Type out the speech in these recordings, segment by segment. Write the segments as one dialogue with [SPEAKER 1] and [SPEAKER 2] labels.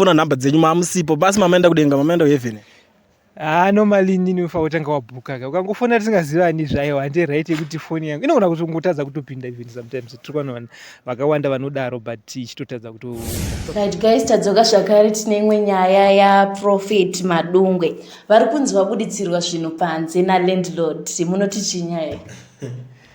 [SPEAKER 1] fona number dzenyu mamusipo basi mamaenda kudenga mamaenda kuheaven haa normally
[SPEAKER 2] inini unofanira kutanga wabhuka ka ukangofona tisingazivani zvayo hande right yekuti foni yangu inogona kuti ungotadza kutopinda even sometimes tiri kuona vanhu vakawanda vanodaro but ichitotadza kuto right guys
[SPEAKER 3] tadzoka zvakare tine imwe nyaya yaprofet madungwe vari kunzi vabuditsirwa zvinhu panze nalandlord munoti chii nyaya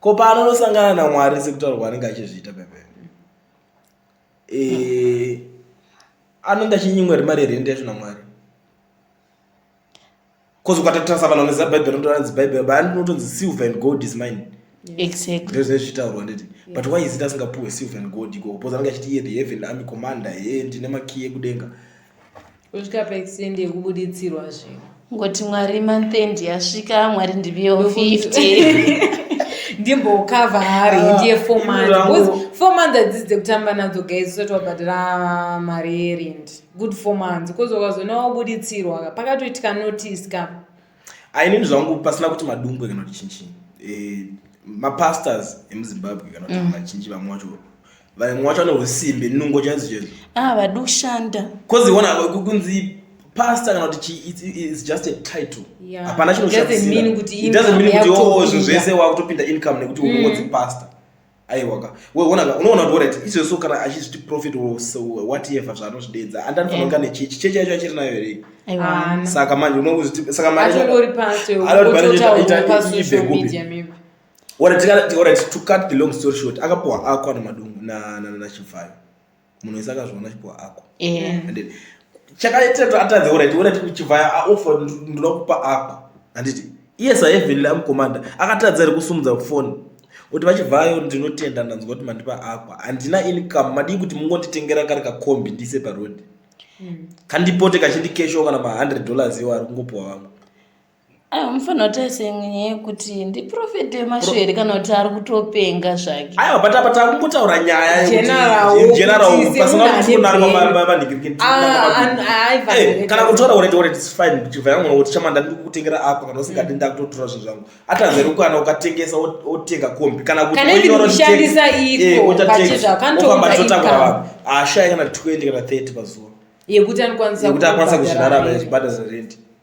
[SPEAKER 1] ko paanonosangana namwari sekutaura kwaanenge achizviita pemberi eh, anenge achinyimwa ri mari yerende yacho namwari bcause ukatatarisa vanhu vanoziva bhaibheri rinotoranzi bhaibheri baa ndinotonzi silver and gold is mine exactly ndozvine
[SPEAKER 3] zvichitaurwa
[SPEAKER 1] nditi but why is it asingapuhwe silver and gold ikoko bcause anenge achiti iye the heaven army commander he ndine makiyi ekudenga kusvika
[SPEAKER 4] paextend yekubuditsirwa zve ngoti mwari
[SPEAKER 3] monthend yasvika mwari ndiviyewo 50
[SPEAKER 4] ndimbokava hari ah, ndiye four months four months adzidzi dzekutamba nadzo guys usati wabhadhira mari yerent good four months bcause wakazoona wabuditsirwa pakatoitika notice ka ainini
[SPEAKER 1] zvangu pasina kuti madumbwe kana kuti chinchinyi eh, mapastors emuzimbabwe kana kuti mm. machinji vamwe wacho vamwe wacho vane usimbe nungo chaidzo chaidzo ah, vadi kushanda
[SPEAKER 3] bcause ona
[SPEAKER 1] kunzi pastor kana kuti is just a title hapana chinoshaidoesn't mean kuti oh, zvinhu zvese wakutopinda income nekuti unozi mm. pastor aiwaka unoona kuti orit izvozvo kana achizviti profit whatever zvaanozvideedza andanifanira kunge ane chechi chechi yacho achiri nayo here saka manje unosaka
[SPEAKER 4] mariibekupi
[SPEAKER 1] orit to cut the long story short akapuhwa ako anomadungu nachibvayo munhu wese akazviona chipo ako handiti chakaita atadze oraiti oraiti kuchivhaya aofa ndoda kupa ako handiti iye saevenly amukomanda akatadza ri kusumudza foni kuti vachivhayo ndinotenda ndanzwa kuti mandipa ako handina income madii kuti mungonditengera kari kakombi ndise parodi mm. kandipote kachindikesho kana ma100 dollars iwo ari kungopuwa vamwe Ayo mufana
[SPEAKER 3] kuti asenye kuti ndiprofeti wemaswere kana kuti ari kutopenga zvake. Ayo but apa takungotaura
[SPEAKER 1] nyaya general
[SPEAKER 4] pasina
[SPEAKER 1] kufunarwavanhikirikiti. Kana kutora urete urete it's fine chibva yangu kuti chamanda ndiri kutengera apa kana usingadi ndakutotora zvinhu zvangu. Atanzeri ukana ukatengesa otenga kombi kana kuti kushandisa
[SPEAKER 4] iko pachizva kanotoka totakura
[SPEAKER 1] vanhu. Ashaya kana 20 kana 30 pazuva. Yekuti
[SPEAKER 4] anokwanisa kuzvirarama
[SPEAKER 1] zvibhadhara rent.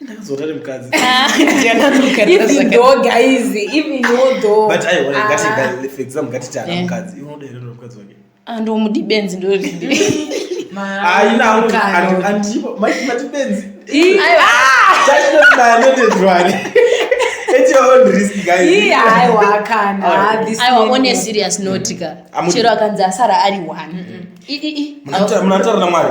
[SPEAKER 4] ndakazota
[SPEAKER 1] nemukadzi ndomudi benzi ndoiibenziaiwaaatibenzitachinotibayanotedzwani
[SPEAKER 4] aiwa one
[SPEAKER 3] serious notika chero akanzi asara ari one mm -hmm.
[SPEAKER 1] munataura namwari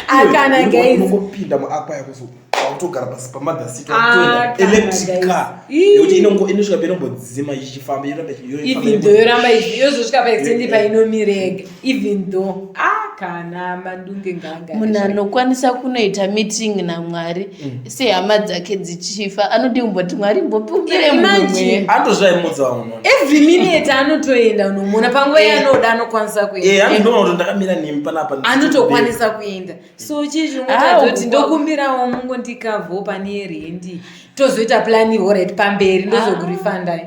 [SPEAKER 4] akanaunongopinda muakwa
[SPEAKER 1] yakuzo kutogara pasi pamother seat ah, electric car yekuti inongo inosvika painombodzima ichifamba yoramba ichifamba even though yoramba
[SPEAKER 4] ichizosvika paextendi painomirega even though ah kana madunge nganga munhu anokwanisa
[SPEAKER 3] kunoita meeting namwari mm. sehama dzake dzichifa anodi kumboti mwari mbopupire mumwe andozvaimudza uno
[SPEAKER 1] every minute
[SPEAKER 4] anotoenda unomuona panguva eh. yaanoda anokwanisa kuendaandoona eh, ndakamira nemi
[SPEAKER 1] panapa anotokwanisa kuenda
[SPEAKER 4] so chii chinotadzo kuti ndokumbirawo mungo ndikavho pane rendi tozoita plani horit pamberi ndozokurifandai